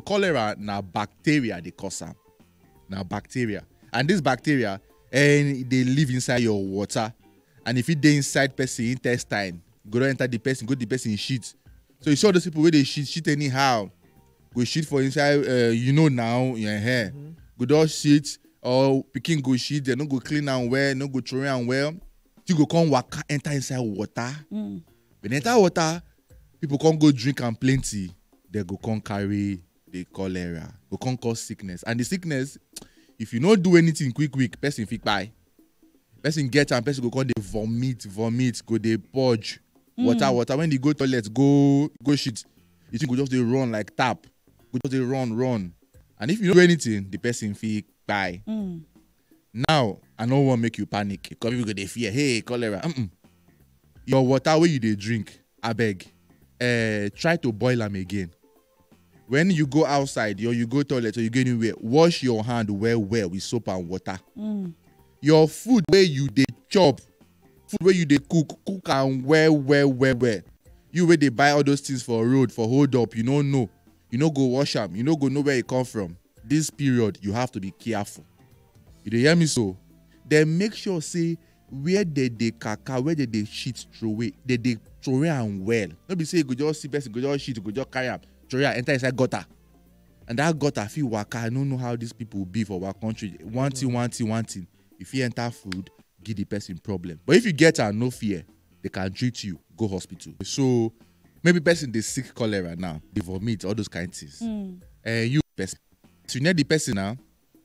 Cholera na bacteria dey cause am. Na bacteria. And this bacteria eh, e dey live inside your water and e fit dey inside person intestine, go don enter the person, go the person shit. So you see all those people wey dey shit, shit anyhow, go shit for inside, uh, you know now, uh, eh, go don shit or pikin go shit, they no go clean am well, no go throw am well. You go come waka enter inside water. When you enter water, People come go drink am plenty, they go come carry the cholera, go come cause sickness. And the sickness, if you no do anything quick quick, person fit kpai. Person get am, person go come dey vomit, vomit, go dey purge, water, water. When they go toilet, go go shit, the thing go just dey run like tap, go just dey run, run. And if you no do anything, the person fit kpai. Now, I no wan make you panic because people go dey fear, hey, cholera. Mm-mm. Your water wey you dey drink, abeg, eh, try to boil am again. When you go outside or you go toilet or you go anywhere, wash your hand well well with soap and water. Mm. Your food wey you dey chop, food wey you dey cook, cook am well well well well. You wey dey buy all those things for road for hold up, you no know. you no go wash am you no go know where e come from this period you have to be careful you dey hear me so then make sure say where they dey kaka where they dey shit throway they dey throway am well no be say you go just see person go just shit you go just carry am throway am enter inside gutter and that gutter fit waka i no know how these people be for our country one thing one thing one thing you fit enter food give the person problem but if you get am no fear they can treat you go hospital so maybe person dey sick cholera now dey vomit all those kind things Mm. eh you person you near the person now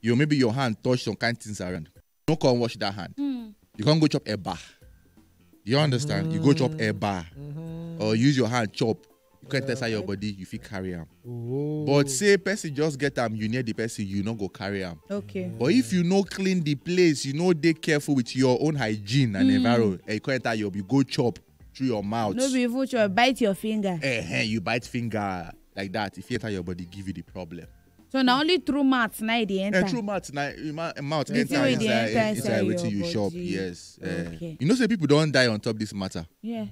you maybe your hand touch some kind things around no come wash that hand Mm. you can't go chop eba you understand you go chop eba or use your hand chop you can't test out your body you fit carry am Oh. but say person just get am you near the person you no go carry am Okay. but if you no clean the place you no dey careful with your own hygiene and environment eh, you come enter your you go chop through your mouth. no be even sure bite your finger. Eh, you bite finger like that. If you enter your body, give you the problem. so na only through mouth na e dey enter. And through mouth, na, eh, ma- mouth The enter thing wey dey inside, enter inside, inside wetin your you chop. body. Yes. eh. Okay. You know, say people don't die on top this matter. yeah.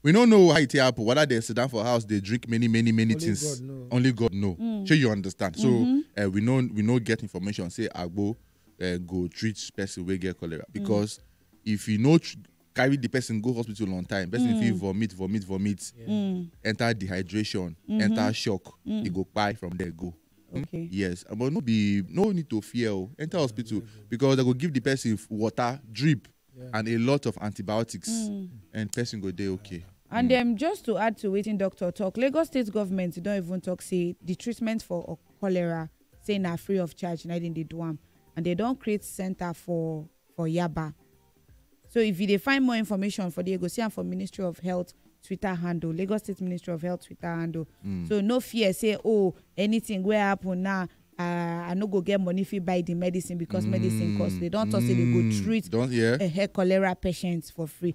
We don't know how it happen. Whether they sit down for house, they drink many, many, many Only things. God know. Only God know. Mm. Sure, you understand. So Mhm. uh, we know we know get information. Say Agbo uh, go treat person we get cholera because if you know tr- carry the person go hospital on time person mm. fit vomit vomit vomit mm. enter dehydration mm-hmm. enter shock mm. e go kpai from there go. Hmm? Okay. yes but no be no need to fear o oh. enter hospital because they go give the person water drip yeah. and a lot of antibiotics mm. and person go dey okay. and mm. um, just to add to wetin doctor talk lagos state government don even talk say the treatment for cholera say na free of charge na dem dey do am and they don create center for for Yaba. So if you dey find more information for there, you go see am for Ministry of Health Twitter handle, Lagos State Ministry of Health Twitter handle. So no fear, say oh anything wey happen now, uh, I no go get money fit buy the medicine because medicine cost. They don talk say they go treat Don't yeah. uh, cholera patients for free.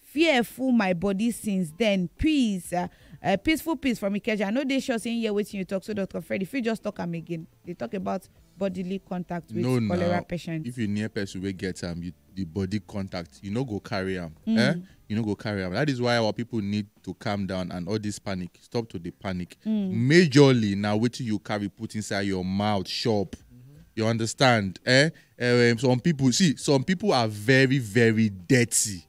Fear full my body since then. Peace. Uh, uh, peaceful peace from Ikeja. I no dey sure say you hear wetin you talk so Dr. Fred. If you just talk am again, they talk about bodily contact with no, cholera now, patient. If you near person wey get am, you, the body contact, you no go carry am. Mm. Eh? You no go carry am. That is why our people need to calm down and all this panic. Stop to the panic. Mm. Majorly now wetin you carry put inside your mouth shop. Mm-hmm. You understand? Eh? um, some people see some people are very very dirty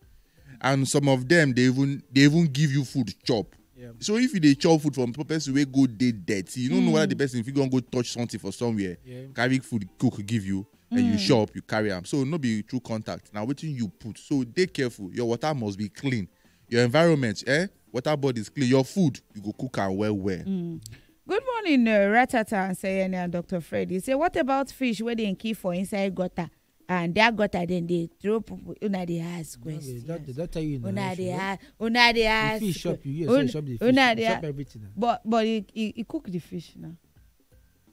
and some of them they even they even give you food chop yeah. so if you dey chop food from person wey go dey dirty you no mm. know whether the hmm. person fit go go touch something for somewhere yeah. carry food cook give you mm. and you hmm. chop you carry am so no be true contact na wetin you put so dey careful your water must be clean your environment eh Water bodies clean. Your food, you go cook am well well. Mm. Good morning, uh, Ratata and Sayene and Dr. Fred. You say, what about fish where they keep for inside gutter? and that gutter then they throw people una dey ask questions una dey ask una dey ask fish shop you hear say shop the fish shop everything but but he he, he cook the fish now